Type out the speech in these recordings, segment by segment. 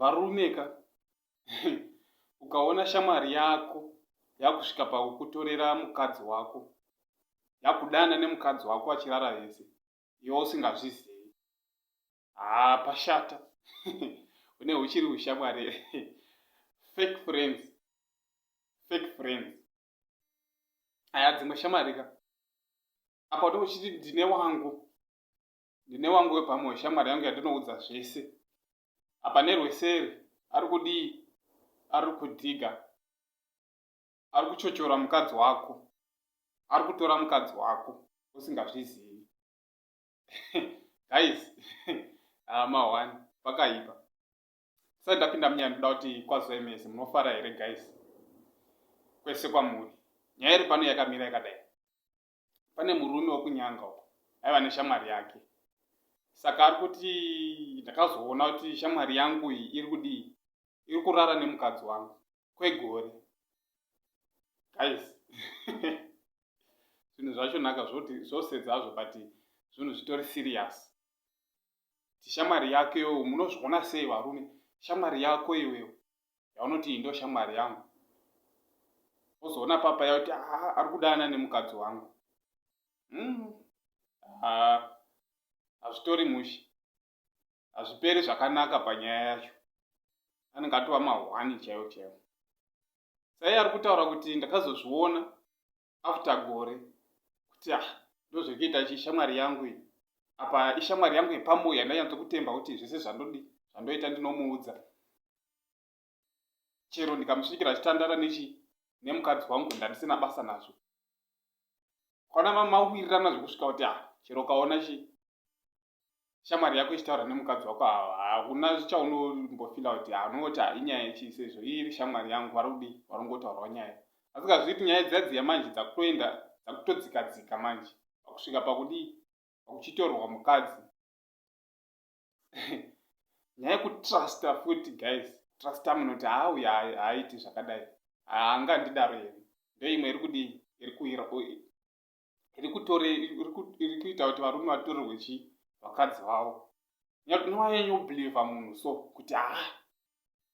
varumeka ukaona shamwari yako yakusvika pakukutorera mukadzi wako yakudana nemukadzi wako achirara vese iwe usingazvizivi haa pashata une huchiri hushamwari fake friends fake friends aya dzimwe shamarika apa uti uchiti ndine wangu ndine wangu wepamwe shamwari yangu yandinoudza zvese apa nerweseri ari kudii ari kudhiga ari kuchochora mukadzi wako ari kutora mukadzi wako usingazvizivi guys ah, mahwani pakaipa sai ndapinda munyaya ndoda kuti kwazoemese munofara here guys kwese kwamuri nyaya iri pano yakamira yakadai pane murume wekunyanga uko aiva neshamwari yake saka ari kuti ndakazoona kuti shamwari yangu iyi iri kudii iri kurara nemukadzi wangu kwegore guys zvinhu zvacho naka zvoti zvosedza hazvo but zvinhu zvitori serious tishamwari yako iwewe munozviona sei varume shamwari yako iwewe yaunoti iyi ndo shamwari yangu ozoona papa yakuti haa ari kudana nemukadzi wangu hmm. hazvitori mushe hazviperi zvakanaka panyaya yacho anenge atova mahwani chaiwo chaiwo saiye ari kutaura kuti ndakazozviona after gore kuti ah ndozvekuita chi shamwari yangu iyi apa ishamwari yangu yepamoyo yandanyatso kutemba kuti zvese zvandodi zvandoita ndinomuudza chero ndikamusvikira achitandara nechi nemukadzi wangu ndandisina basa nazvo kwana mamawirirana zvekusvika kuti a chero ukaona chi shamwari yako ichitaura nemukadzi wako hauna chaunombofila kuti ha unongoti ha inyaya chii sezvo iri shamwari yangu vari kudii varongotaurawo nyaya asi kazviti nyaya dziyadziya manje dzakutoenda dzakutodzikadzika manje pakusvika pakudii pakuchitorwa mukadzi nyaya yekutrusta futi guys trusta munhu kuti haa uya haaiti zvakadai haanga ndidaro yeni ndoimwe iri kudii iri kuira iri kutore iri kuita kuti varume vatorerwe chii vakadzi vavo nowayanyobeliva munhu so kuti haa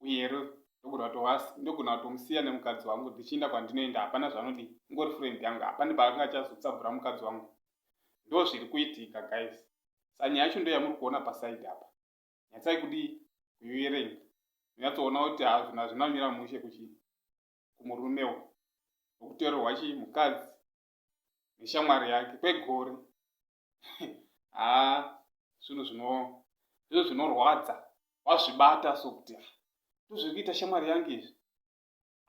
uye ro ndogona kutovas- ndogona kutomusiya nemukadzi wangu ndichienda kwandinoenda hapana zvanodii ingori friend yangu hapane paanga achazotsabura mukadzi wangu ndo zviri kuitika guys sa nyaya yacho ndo yamuri kuona paside apa nyatsai kudii kuiverenga munyatsoona kuti hazvina hazvina kumira mushe kuchi kumurume uku nokutorerwa chii mukadzi neshamwari yake kwegore haa zvinhu zvino ndizvo zvinorwadza wazvibata so kuti ah, ndozviri kuita shamwari yangu izvi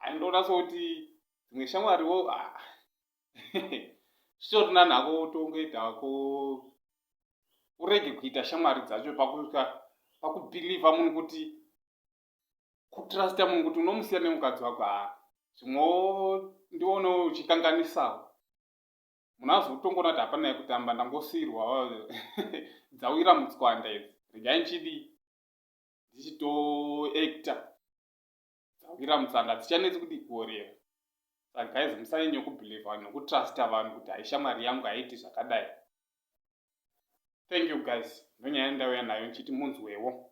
aindoona so kuti dzimwe shamwariwo ah, zvitorina nhako utongoita ko urege kuita shamwari dzacho pakusvika pakubhilivha munhu kuti kutrusta munhu kuti unomusiya nemukadzi wako haa zvimwewo ndionewo uchikanganisawo munhu azotongoona kuti hapana yekutamba ndangosiirwa dzawira mutswanda idzi regai ndichidii ndichitoacta dzawira mutsanga dzichanetsi kudii kuorera saka guys musanyanye kubelieve vanhu nekutrusta vanhu kuti haishamwari yangu haiti zvakadai thank you guys ndonyaya ndauya nayo ndichiti munzwewo